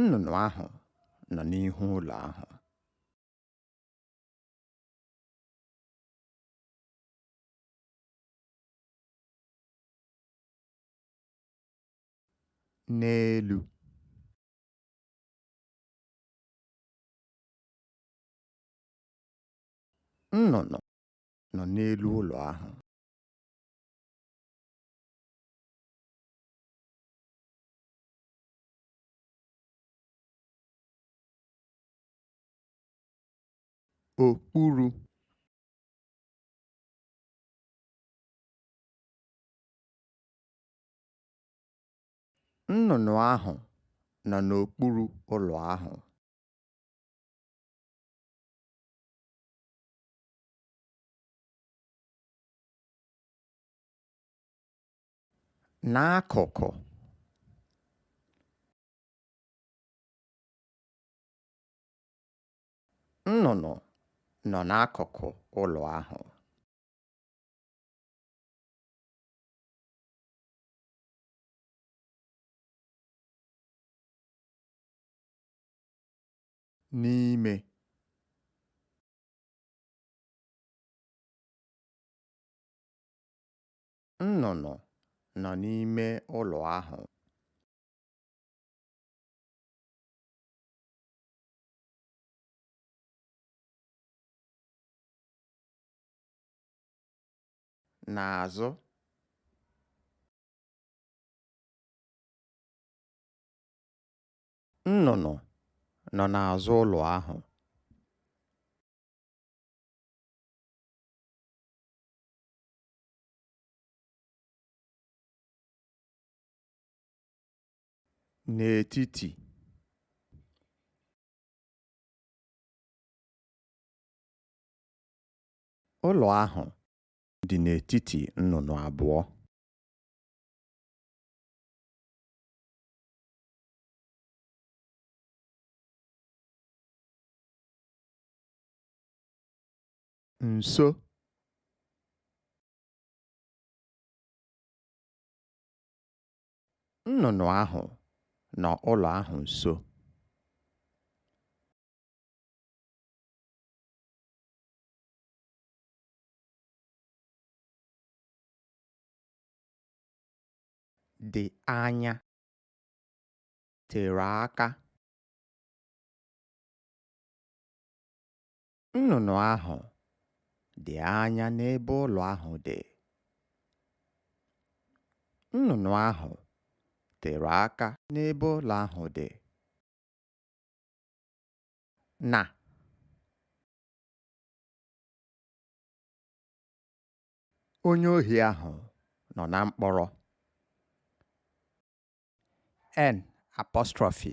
Nnụnụ ahụ nọ n'ihu ụlọ ahụ. N'elu. Nnụnụ nọ n'elu ụlọ ahụ. okpuru nnụnụ ahụ nọ n'okpuru ụlọ ahụ n'akụkụ nnụnụ nọ n'akụkụ ụlọ ahụ n'ime Nnụnụ nọ n'ime ụlọ ahụ. N'azụ. Nnụnụ nọ n'azụ ụlọ ahụ. n'etiti ụlọ ahụ dị n'etiti nnụnụ abụọ nso nnụnụ ahụ nọ ụlọ ahụ nso dị anya tere aka Nnụnụ ahụ dị anya n'ebe ụlọ ahụ dị. Nnụnụ ahụ tere aka n'ebe ụlọ ahụ dị. Na onye ohi ahụ nọ na mkpọrọ. N apostrophe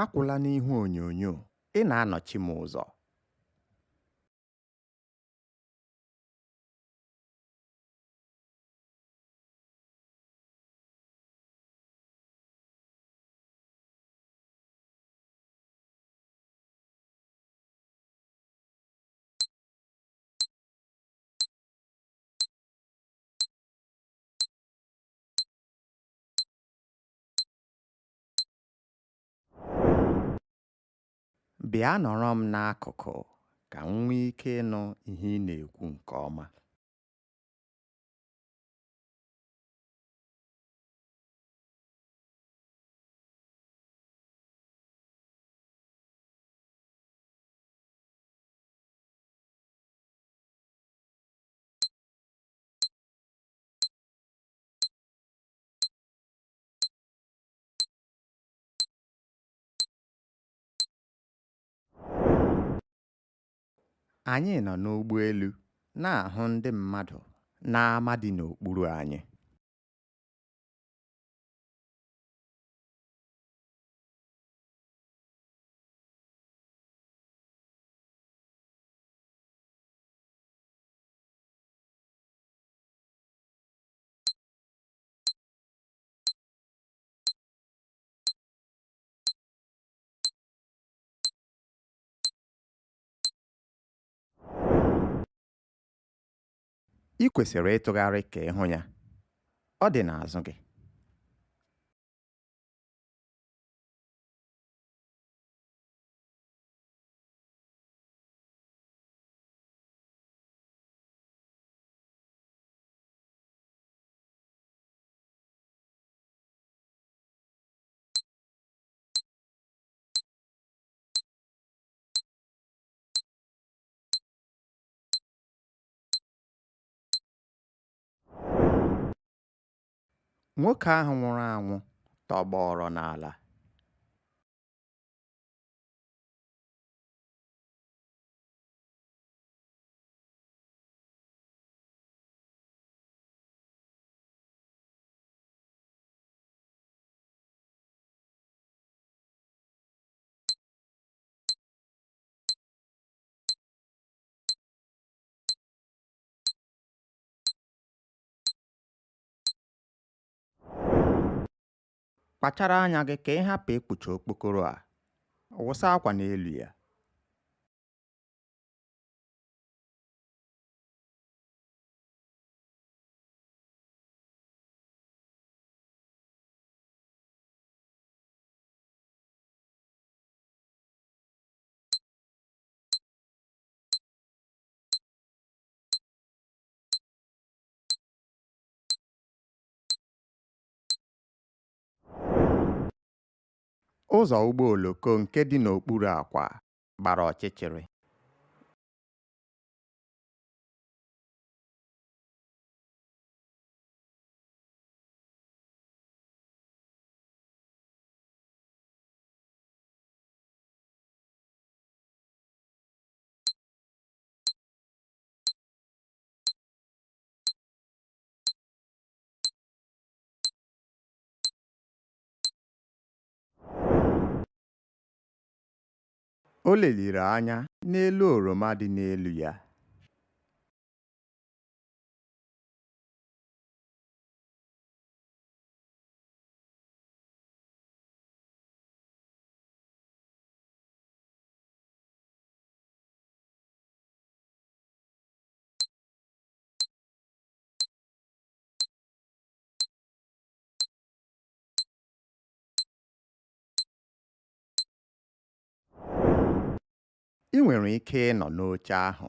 Akwụla n'ihu onyonyo, ị na-anọchi m ụzọ. Bịa nọrọ m n'akụkụ ka m nwee ike ịnụ ihe ị na-ekwu nke ọma. anyị nọ n'ụgbọelu na-ahụ ndị mmadụ n'ama dị n'okpuru anyị i kwesịrị ịtụgharị ka ị hụ ya ọ dị n'azụ gị Nwoke ahụ nwụrụ anwụ tọgbọọrọ n'ala. Kpachara anya gị ka ị hapụ ịkpụcha okpokoro a. Wụsa akwa n'elu ya. Ụzọ ụgbọ oloko nke dị n'okpuru akwa gbara ọchịchịrị. O leliri anya n'elu oroma dị n'elu ya. i nwere ike ịnọ n'oche ahụ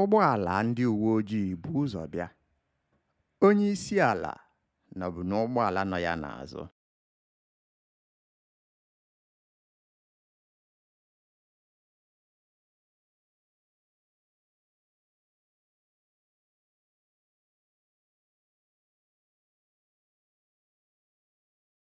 Ụgbọala ndị uwe ojii bu ụzọ bịa. Onye isi ala nọbu n'ụgbọala nọ ya n'azụ.